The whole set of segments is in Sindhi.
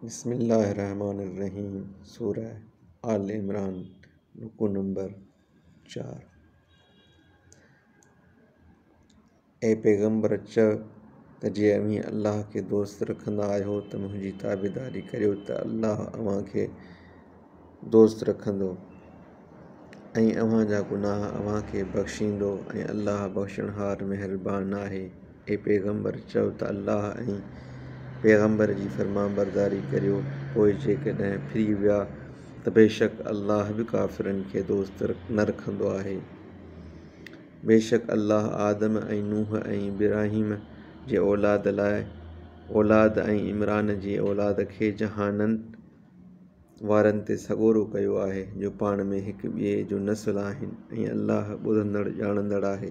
بسم الله الرحمٰن الرحيم سورة آل عمران رڪوع نمبر چار اي پيغمبر چئه ته جي اوهين الله کي دوست رکندا آهيو ته منهنجي تابعداري ڪريو ته الله اوهان کي دوست رکندو ۽ اوهان جا گناهه اوهان کي بخشيندو ۽ الله بخشڻهار مهربان آهي. اي پيغمبر! چؤ ته الله ۽ پيغمبر جي فرمانبرداري ڪريو، پوء جيڪڏهن ڦري ويا ته بيشڪ الله به ڪافرن کي دوست نه رکندو آهي. بيشڪ الله آدم ۽ نوح ۽ ابراهيم جي اولاد لاء اولاد ۽ عمران جي اولاد کي جهانن، وارن تي سڳورو ڪيو آهي جو پاڻ ۾ هڪ ٻئي جو نسل آهن ۽ الله ٻڌندڙ ڄاڻندڙ آهي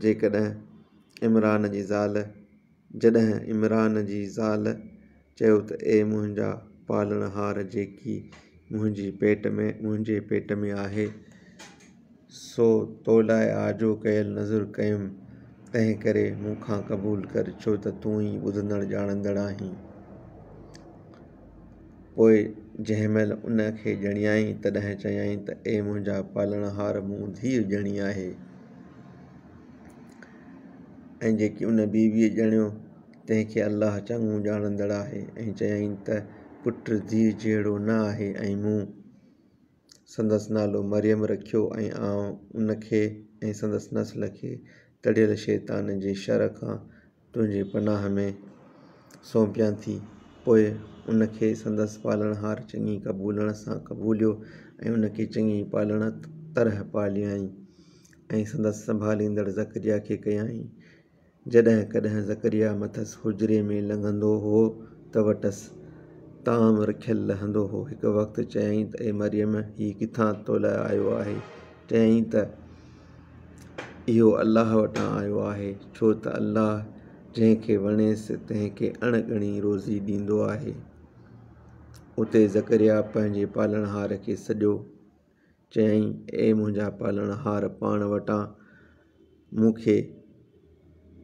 جيڪڏهن عمران جي زال جڏهن عمران جي زال چيو ته اي منهنجا پالڻهار جيڪي منهنجي پيٽ ۾ منهنجي پيٽ ۾ آهي سو تو لاء آجو ڪيل نذر ڪيم، تنهن ڪري مون کان قبول ڪر، ڇو ته تون ئي ٻڌندڙ ڄاڻندڙ آهين. پوء جنهن مهل ان کي ڄڻيائين، تڏهن چيائين ته اي منهنجا پالڻهار! مون ڌيء ڄڻي آهي ۽ جيڪي ان بيبيء ڄڻيو، تنهن کي الله چڱو ڄاڻندڙ آهي ۽ چيائين ته پٽ ڌيء جهڙو نه آهي ۽ مون. سندس نالو مريم رکيو ۽ آئون ان کي ۽ سندس نسل کي تڙيل شيطان جي شر کان تنهنجي پناهه ۾ سونپيان ٿي. پوء ان کي سندس پالڻهار چڱي قبولڻ سان قبوليو ۽ ان کي چڱي پالڻ طرح پاليائين ۽ سندس سنڀاليندڙ زڪريا کي ڪيائين. جڏهن ڪڏهن زڪريا مٿس حجري ۾ لنگهندو هو ته وٽس طعام رکيل لهندو هو. هڪ وقت چيائين ته اي مريم! هي ڪٿان تو لاء آيو آهي؟ چيائين ته اهو الله وٽان آيو آهي، ڇو ته الله جنهن کي وڻيس تنهن کي اڻ ڳڻي روزي ڏيندو آهي. اتي زڪريا پنهنجي پالڻهار کي سڏيو چيائين، اي منهنجا پالڻهار! پاڻ وٽان مون کي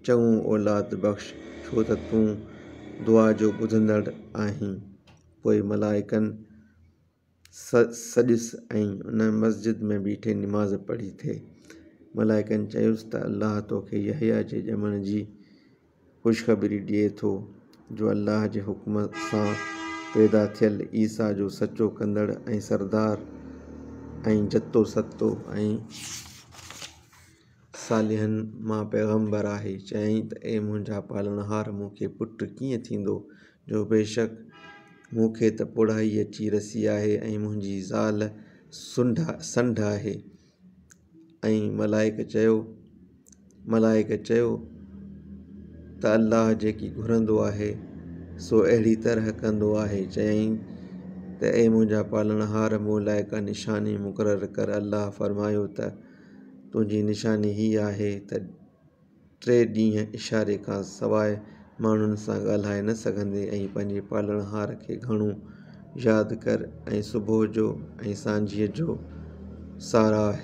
چڱو اولاد بخش، ڇو ته تون دعا جو ٻڌندڙ آهين. پوء ملائڪن سڏيس ۽ ان مسجد ۾ بيٺي نماز پڙهي ٿي. ملائڪن چيس ته الله توکي يحيٰ جي ڄمڻ جي خوشخبري ڏئي ٿو جو الله جي حڪم سان پيدا ٿيل عيسيٰ جو سچو ڪندڙ ۽ سردار ۽ جتو ستو ۽ صالحن مان پيغمبر آهي. چيائين ته اي منهنجا پالڻهار مون کي پٽ ڪيئن ٿيندو جو بيشڪ مون کي ته پوڙهائي اچي رسي آهي ۽ منهنجي زال سنڍ آهي. ۽ ملائڪ چيو، ملائڪ چيو ته الله جيڪي گهرندو آهي سو اهڙي طرح ڪندو آهي چيائين ته اي منهنجا پالڻهار مون لاء ڪا نشاني مقرر ڪر الله فرمايو ته تنهنجي نشاني هي آهي ته ٽي ڏينهن اشاري کان سواء ماڻهن سان ڳالهائي نه سگهندي ۽ پنهنجي پالڻهار کي گهڻو ياد ڪر ۽ صبح جو ۽ سانجهيء جو ساراهه.